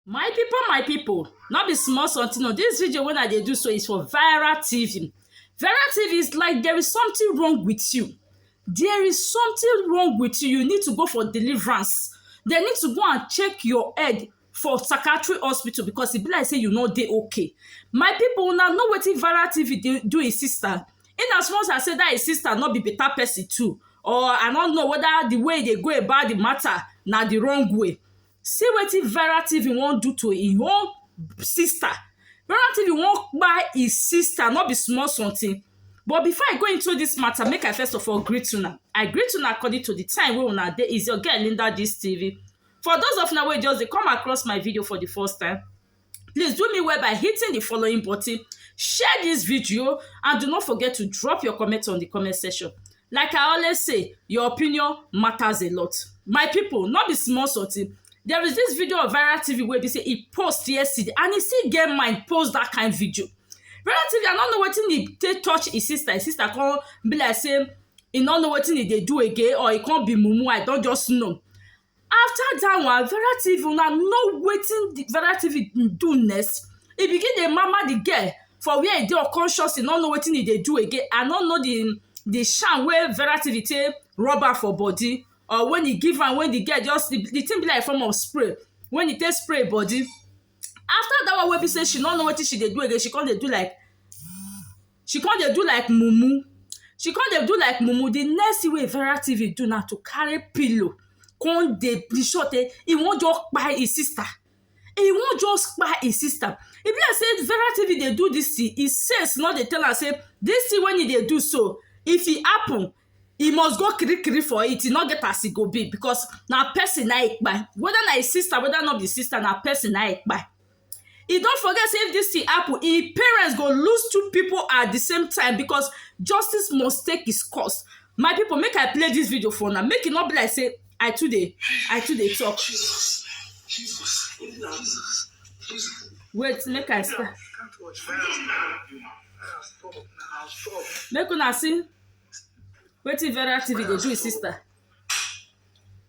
my people my people not be small something no this video when i dey do so is for viral tv viral tv is like there is something wrong with you there is something wrong with you you need to go for deliverance they need to go and check your head for psychiatric hospital because e be like say you no dey okay my people una know wetin viral tv dey do his sister in as much as say that his sister no be better person too or i no know whether the way e dey go about the matter na the wrong way See wetin Vera TV wan do to im own sister. Vera TV wan kpai im sister no be small something. But before I go into this matter, make I first of all greet una. I greet una according to the time wey una dey. Is your girl Linda Gist TV. For those of una wey just dey come across my video for the first time, please do me well by hitting the following button share this video and do not forget to drop your comment on the comment section like i always say your opinion matters a lot my people not be small sorting there is this video of viral tv where they say he post yesterday and he still get mind post that kind video relatively i don't know what he take touch his sister his sister come be like say he don't know what he they do again or he can't be mumu i don't just know After dat one Vera TV una know wetin the Vera TV do next e begin dey mama the girl for where e dey unconscious e no know wetin e dey do again I no know the the charm wey Vera TV take rub am for body or when e give am when the girl just the thing be like form of spray when e take spray e body after dat one wey be say she no know wetin she dey do again she come dey do like she come dey do like mumu she come dey do like mumu the next thing wey Vera TV do na to carry pillow come dey be sure sey e wan just kpai him sister e wan just kpai him sister e be like sey Vera TV dey do this thing him sense no dey tell am sey this thing wey him dey do so if e happen e must go kirikiri for it e no get as e go be because na person na him kpai whether na him sister whether no be him sister na person na him kpai e don forget say if dis thing happen im parents go lose two people at the same time because justice must take its course my people make i play this video for una make e no be like say i too dey i too dey talk Jesus, Jesus, Jesus, Jesus. wait make i start Can't watch. Fire stop. Fire stop. make una see wetin vera tv dey do his sister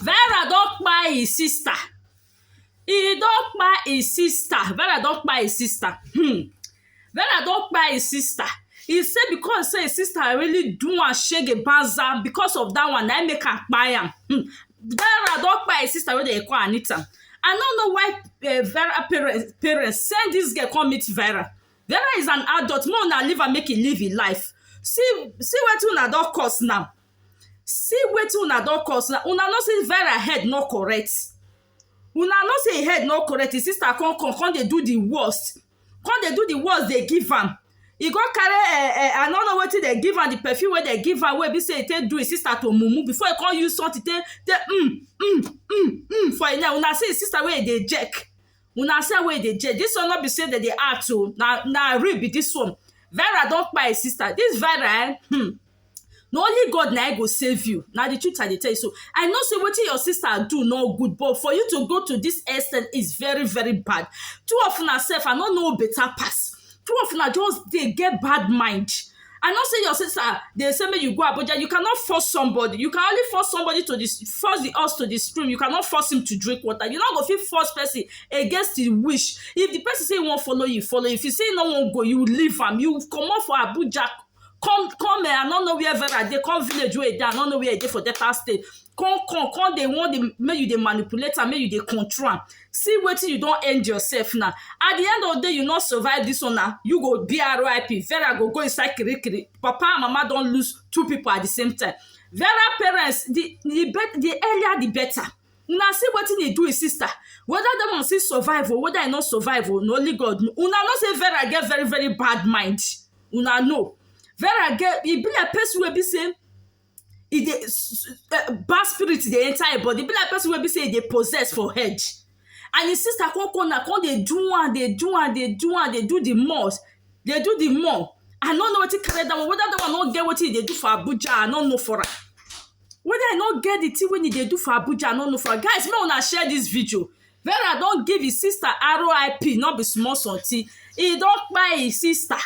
Vera don kpai him sister he don kpai him sister Vera don kpai him sister um Vera don kpai him sister he say because say him sister really do am shege banza because of that one na him make am kpai am um Vera don kpai him sister wey dem dey call Anita I no know why um Vera parents parents send this girl come meet Vera Vera is an adult make una leave am make he live him life see see wetin una don cause now see wetin una don cause na una know say vera head no correct una know say head no correct him sister come come come dey do the worst come dey do the worst dey give am e go carry eh eh i no know wetin dem give am the perfume wey dem give am wey be say e take do him sister to mumu before e come use something take take um um um um for him neck una see him sister wey e dey jerk Una see wey e dey change this one no be say dem dey act o na na real be this one Vera don kpai her sister this Vera eh hmm na only God na him go save you na the truth I dey tell you so I know say wetin your sister do no good but for you to go to this extent is very very bad two of una sef I no know who better pass two of una just dey get bad mind I know say your sister dey say make you go Abuja. You cannot force somebody. You can only force somebody to the force the horse to the stream. You cannot force him to drink water. You not go fit force person against the wish. If the person say he won't follow you, follow. If he say he no won't go, you leave him. You come out for Abuja. Come, come. Eh, I don't know where Vera they come village where they. I don't know where they for Delta State. Come, come, come. They want the make you they manipulate and make you they control. see wetin you don end yourself now at the end of the day you no survive this one na you go be rip vera go go inside kirikiri papa and mama don lose two people at the same time vera parents the the, bet, the earlier the better una see wetin he do his sister whether that one still survive or whether he no survive o na only god know una know say vera get very very bad mind una know vera get e be like person wey be say e dey bad spirit dey enter e body e be like person wey be sey e dey possess for head and e sister come come na come dey do am dey do am dey do am dey do the more dey do the more I no know wetin carry that one whether that one no get wetin e dey do for Abuja I no know for am whether e no get the thing wey e dey do for Abuja I no know for am guys make una share this video Vera don give him sister RIP no be small something e don kpai him sister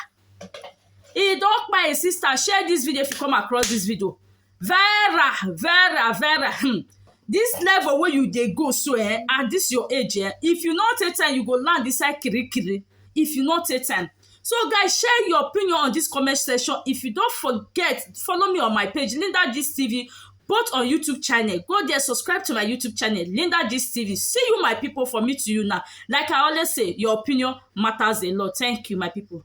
e don kpai e sister share this video if you come across this video vera vera vera hmm this level wey you dey go so eh at this your age eh if you no take time you go land inside kirikiri if you no take time so guys share your opinion on this comment section if you don forget follow me on my page linda gist tv both on youtube channel go there subscribe to my youtube channel linda gist tv see you my people for me to you now like i always say your opinion matters a lot thank you my people